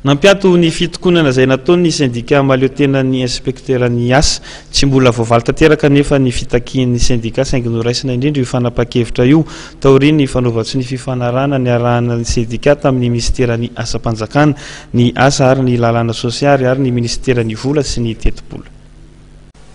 Nampiato ny fitokonana izay nataon'ny sendika mahaleo tena ny inspekteran'ny asa. Tsy mbola voavaly tanteraka anefa ny fitakian'ny sendika saingy noraisina indrindra io fanapahan-kevitra io taorian'ny fanaovan-tso ny fifanarahana niarahana ny sendika tamin'ny minisiteran'ny asam-panjakana, ny asa ary ny lalàna sosialy ary ny minisiteran'ny vola sy ny tetibola.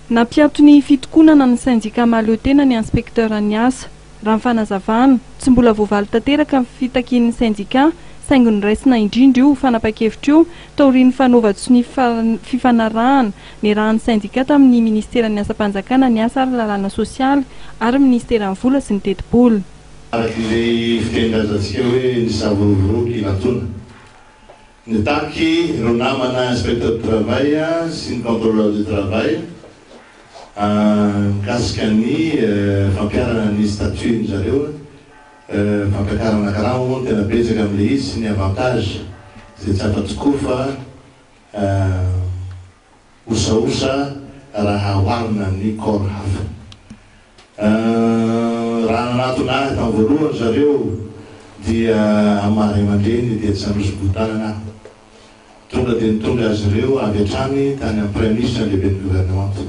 Nampiato ny fitokonana ny sendika mahaleo tena ny inspekteran'ny asa. Raha ny fanazavana, tsy mbola voavaly tanteraka ny fitakian'ny sendikà, saingy noraisina indrindra io fanapahan-kevitra io taorian'ny fanaovan-tsonia fifanarahana niarahan'ny sendikà tamin'ny Ministeran'ny Asam-panjakana, ny Asa ary Lalàna Sosialy ary Ministeran'ny Vola sy ny Tetibola. Araka izay fitenin-drazantsika hoe, Ny savony vonoiko ilatoana. Nitaky ireo namana inspecteur du travail sy ny controleur du travail mikasika ny fampiharana ny statut ny zareo, fampiakarana karama moa no tena betsaka amin'ilay izy sy ny avantage izay tsy afa-tsy koa fa. osaosa raha oharina amin'ny corps hafa. Raha nanatona ahy tamin'ny voalohany ry zareo dia amin'ny maha ray aman-dreniny dia tsy nanoso-bohon-tanana aho. Tonga dia nitondra azy ireo avy hatrany tany amin'ny Praiminisitra lehiben'ny Governemanta,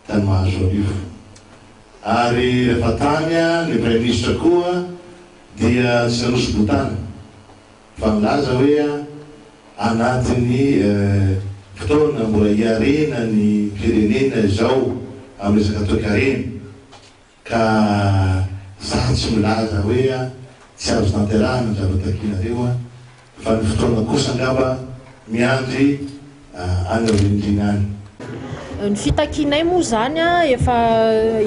tany Mahazoarivo. Ary rehefa tany ny Praiminisitra koa dia tsy nanoso-bohon-tanana. fa milaza hoe anatin'ny fotoana mbola hiarena ny firenena izao amin'ny resaka toekarena ka izaho tsy milaza hoe tsy azo tanterahana ny zavatra takianareo fa ny fotoana kosa angamba miandry any aorian-tena any. Ny fitakianay moa izany an, efa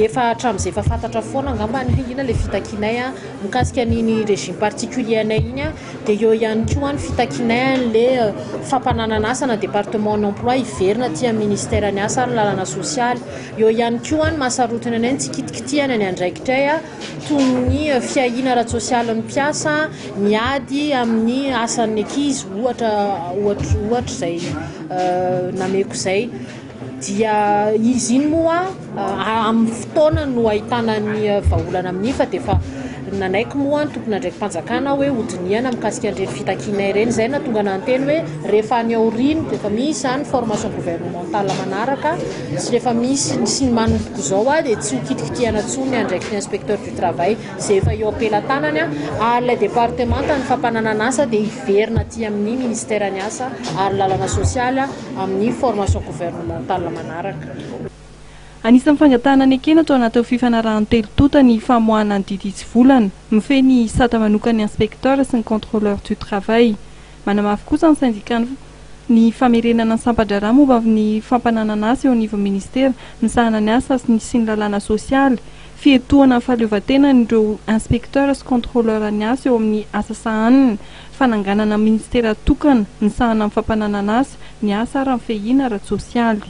efa hatramin'izay efa fantatra foana angamba ny hoe inona ilay fitakianay an, mikasika an'iny régime particulier anay iny an, dia eo ihany koa ny fitakianay an'ilay fampananana asa na département en emploi hiverina aty amin'ny ministère ny asa ary ny lalana sosialy, eo ihany koa ny maha sarotiny anay ny tsy kitikitihana ny andraikitray an, toy ny fiahiana ara-tsosialin'ny mpiasa, ny ady amin'ny asan'ny ankizy ohatra ohatra ohatra izay nameko izay dia izy iny moa amin'ny fotoana no ahitana ny vahaolana amin'iny fa dia efa nanaiky moa ny tompon'andraiki-panjakana hoe ho dinihana mikasika an'ireny fitakiana ireny, izay no nahatonga anah niteny hoe. Rehefa any aoriana dia efa misy izany formation gouvernementale manaraka sy rehefa misy sy ny manomboka izao aho dia tsy ho kitikitihana intsony ny andraikitry ny inspecteur du travail izay efa eo am-pelatanany aho ary ilay departemanta ny fampananana asa dia hiverina aty amin'ny ministère ny asa ary lalana sosialy aho amin'ny formation gouvernementale manaraka. Anisan'ny fangatahana nekena ato anatin'ireo fifanarahan'ny telo tonta ny famoahana ny didy hitsivolana mifehy ny sata manokan'ny inspecteur sy ny contrôleur du travail. Manamafy kosa ny sendikàn'ny ny Famerenana ny Sampan-draharaha momba ny Fampananana Asa eo anivon'ny Ministera misahana ny Asa sy ny sy ny Lalàna Sosialy, fiatohana ny fahaleovantenan'ireo Inspecteurs sy Contrôleurs ny Asa eo amin'ny Asa Sahaniny, fananganana Ministera tokana misahana amin'ny Fampananana Asa, ny Asa ary ny Fehina ara-tsosialy.